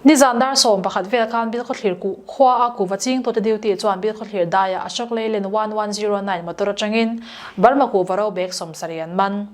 Nizan dar sawm pakhat vel khan Bilkhawthlir kuh khua a kuhva ching tute duty chuan Bilkhawthlir daiah Ashok Leyland one one zero nine motor atangin Burma kuhva ro bag sawm sarih an man.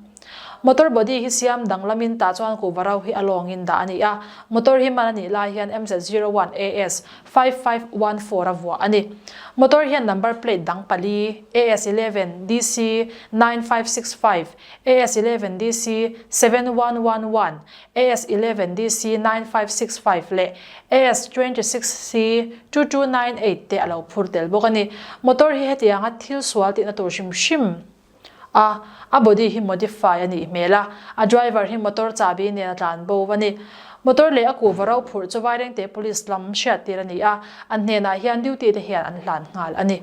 Motor body hi siam danglamin tah chuan kuhva ro hi a lawngin dah a ni a, motor hi man a nih lai hian MZ zero one AS five five one four a vuah a ni. Motor hian number plate dang pali AS eleven DC nine five six five, AS eleven DC seven one one one, AS eleven DC nine five six five leh AS twenty six C two two nine eight te a lo phur tel bawk a ni. Motor hi hetianga thil sual tihna tur hrim hrim a, a body hi modify a nih hmel a, a driver hi motor chabi nen a tlan bo va ni. Motor leh a kuh va ro phurh chu Vairengte Police lam hriattir a ni a, an hnenah hian duty te hian an hlan nghal a ni.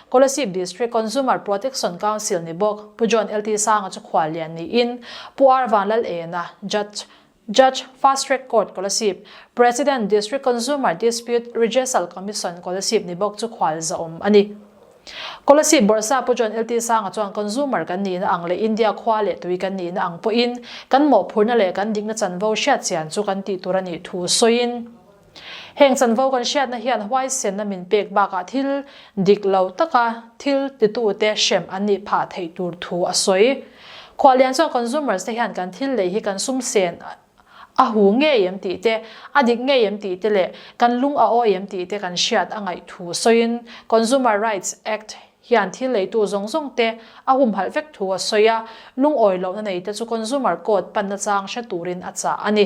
Kolasib District Consumer Protection Council ni bawk Pu John LT Sanga chu khual lian niin Pu R Vanlal Ena, Judge, Judge, Fast Track Court Kolasib, President District Consumer Dispute Rejesal Commission Kolasib ni bawk chu khual zahawm a ni. Kolasib Bawrhsa Pu John LT Sanga chuan consumer kan niin a ang leh India khua leh tui kan niin a ang pawhin kan mawhphurhna leh kan dikna chanvo hriat chian chu kan tih tur a nih thu sawiin, Heng chanvo kan hriatna hian huaisenna min pek bakah thil dik lo taka thil titute hrem an nih phah theih tur thu a sawi. Khualian chuan consumers-te hian kan thil lei hi kan sum sen a hu ngei em tih te, a dik ngei em tih te leh kan lung a awi em tih te kan hriat a ngaih thu sawiin Consumer Rights Act hian thil leitu zawng zawng te a humhalh vek thu a sawi a, lungawi lohna nei te chu consumer code panna chang hre turin a chah a ni.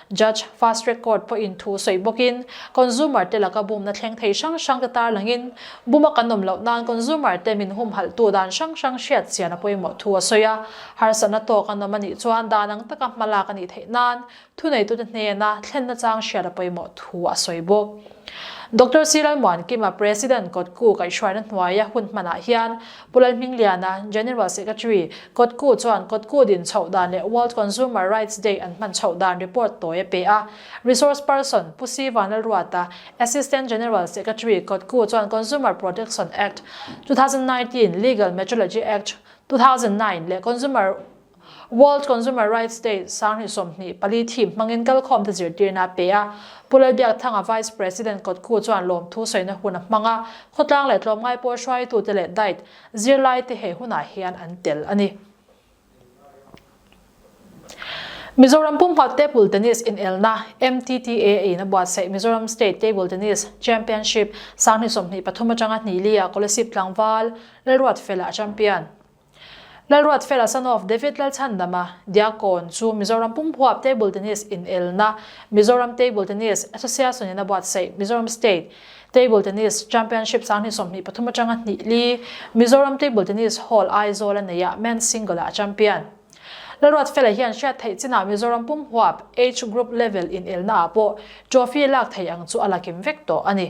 Judge Fast Track Court pawhin thu sawi bawkin, consumer te laka bumna thleng thei hrang hrang te tar langin, bum a kan awm loh nan consumer te min humhalhtu dan hrang hrang hriatchian a pawimawh thu a sawi a, harsatna tawk a nawm a nih chuan dan ang taka hmalak a nih theih nan thuneitute hnena thlenna chang hriat a pawimawh thu a sawi bawk. Doctor Silalmuan Kima President kawtku kaihhruaina hnuaia hun hmanah hian Kulai hming liana General Secretary Kawt Ku chuan Kawt Ku din chhoh dan leh World Consumer Rights Day an hman chhoh dan report tawi a pe a. Resource Person Pu Siva Lalruata, Assistant General Secretary Kawt Ku chuan Consumer Protection Act, two thousand nineteen, Legal Metrology Act, two thousand nine, leh Consumer. World Consumer Rights Day Sanghnih sawmhnih pali thim hmangin kalkhawmte zirtirna a pe a. Pu Lal Biakthanga Vice President kawtku chuan lawmthu sawiina hun a hmang a, khawtlang leh tlawmngai pawh hruaitute leh diet zirlaite he hunah hian an tel a ni. Mizoram Pumhmat Table Tennis Inelna, MTTA, a in a buatsaih Mizoram State Table Tennis Championship Sanghnih sawmhnih pathum atanga Hnilia Kolasib Tlangval Lalruatfela a champion. Lalruat fela son of David Lalchhandama Diakon chu Mizoram Pumhuap Table Tennis inelna Mizoram Table Tennis Association in a buatsaih Mizoram State Table Tennis Championship sang hnih sawmhnih pathum atanga hnihli Mizoram Table Tennis Hall Aizawl a neih a Men's Single ah a champion Lalruat fela hian hriat theih chinah Mizoram Pumhuap Age Group Level inelna ah pawh trophy lak thei ang chu a lakim vek tawh a ni.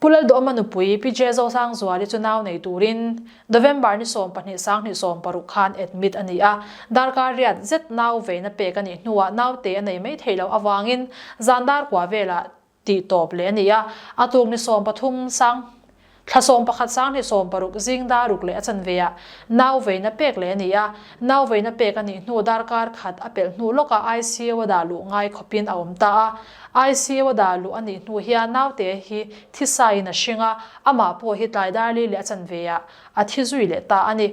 Pu Lalduama nupui Pi Jezo Sangzuali chu nau nei turin November ni sawm pahnih sang hnih sawm paruk khan admit a ni a, darkar riat zet nau veina pek a nih hnuah naute a nei mai thei loh avangin zan dar kua velah tih tawp leh a ni a, a tuk ni sawm pathum sang thla sawm pakhat sang hnih sawm paruk zing dar ruk leh a chanveiah nau veina pek leh a ni a, nau veina pek a nih hnu darkar khat a pelh hnu lawka ICU a dah luh ngai khawpin a awm ta a, ICU a dah luh a nih hnu hian naute hi thisain a hring a, amah pawh hi tlai darli leh a chanveiah a thi zui leh ta a ni.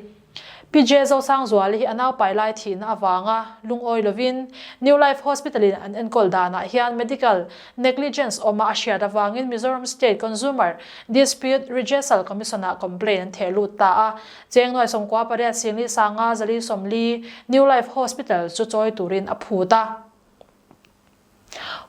PJ Zosangzuali hi a naupai lai thihna avanga lungawi lovin New Life Hospital in an enkawl danah hian medical negligence awm a a hriat avangin Mizoram State Consumer Dispute Regesal Commission ah complaint an theh lut ta a, Chengnuai Sawmkua pariat Singlisanga Zalisawmli New Life Hospital chu chawi turin a phut a.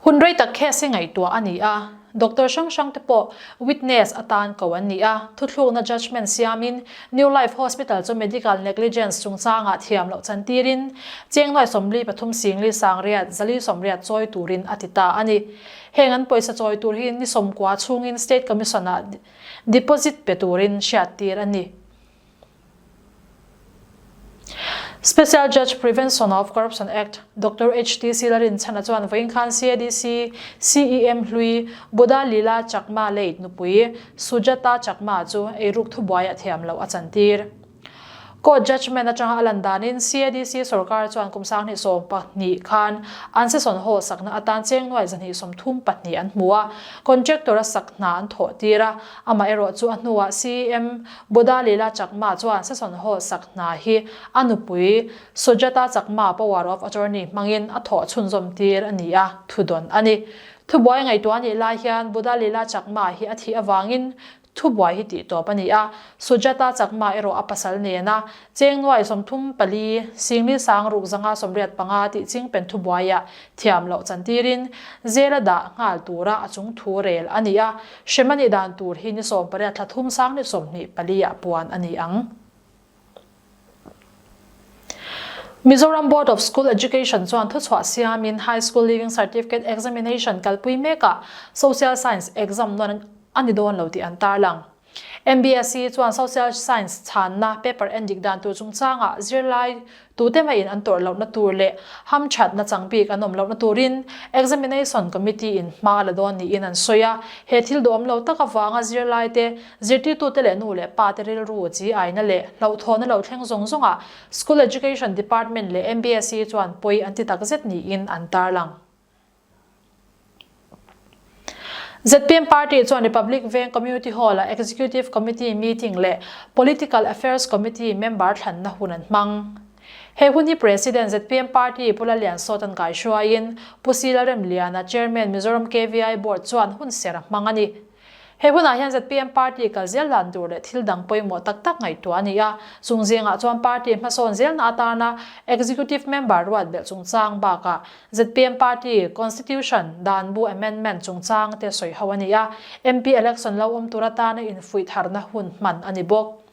Hun rei tak case-i ngaihtuah a ni a, doctor hrang hrang te pawh witness atan ko an ni a, thuthlukna judgement siamin New Life Hospital chu medical negligence chungchangah thiam loh chantirin Chengnuai Sawmli pathum Singli Sangriat Zali Sawmriat chawi turin a ti ta a ni. Heng an pawisa chawi tur hi ni sawmkua chhungin State Commission-ah deposit pe turin hriattir a ni. Special Judge Prevention of Corruption Act, Doctor HTC la rinchhanah chuan Vawinkhlan CADC, CEM hlui, Buddha Lila Chakma late nupui, Sujata Chakma chu eiruk thubuai a thiam loh a chantir. Court judgement atanga a lan danin CADC sorkar chuan kum sanghnih sawm pahnih khan an sesawn haw sakna atan chengnuai zahnih sawmthum pahnih an hmu a, contractor a sak hna an thawhtir a, amaherawhchu a hnuah CEM Boda Lila Chakma chuan Sasonho sak hna hi a nupui Sujata Chakma power of attorney hmangin a thawh chhunzawm tir a ni a, thudawn a ni. Thubuai ngaihtuah anih lai hian Boda Lila Chakma hi a thih avangin thubuai hi tih tawp a ni a, Sujata Chakma erawh a pasal nena Chengnuai sawmthum pali Singli Sang Rukzanga sawmriat panga tih ching pen thubuaiah thiam loh chantirin zela dah nghal tura a chungthu rel a ni a, Hrem anih dan tur hi ni sawm pariat thla thum sang ni sawm hnih pali ah puan ani ang. Mizoram Board of School Education chuan thuchhuah siam in High School Leaving Certificate Examination kalpui mek ah Social Science exam nuan ani dawn lo tih an tar lang. MBSE chuan Social Science chhanna paper en dik dan tur chungchang ah zirlai Tute maiin an tawrh lohna tur leh hamthatna changbik an awm lohna turin Examination Committee-in hma a la dawn niin an sawi a. He thil duhawm lo tak avanga zirlaite, zirtirtute leh nu leh pate rilru chi aina leh hlauhthawnna lo thleng zawng zawng ah School Education Department leh MBSE chuan pawi an ti takzet niin an tarlang. Zpm Party chuan Republic veng Community Hall ah Executive Committee Meeting leh Political Affairs Committee Member thlanna hun an hmang. He hun hi President Zpm Party Pu Lalian Sawtan kaihruaiin Pu Silalrem Liana Chairman Mizoram KVI Board chuan hun ser a hmang a ni. He hunah hian zpm party kal zel dan tur leh thil dang pawimawh tak tak ngaihtuah a ni a, chung zingah chuan party hmasawn zelna atarna executive member ruat belh chungchang bakah zpm party constitution dan bu amendment chungchang te sawi ho a ni a, MP election lo awm tur atarna infuih tharna hun hman a ni bawk.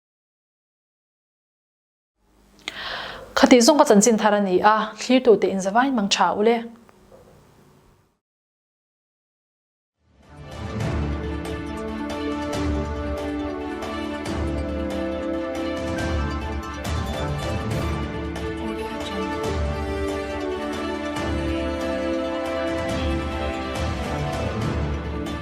Khatih zawng ka chanchin thar a ni a, thlir tu te in za vain mang tha u le.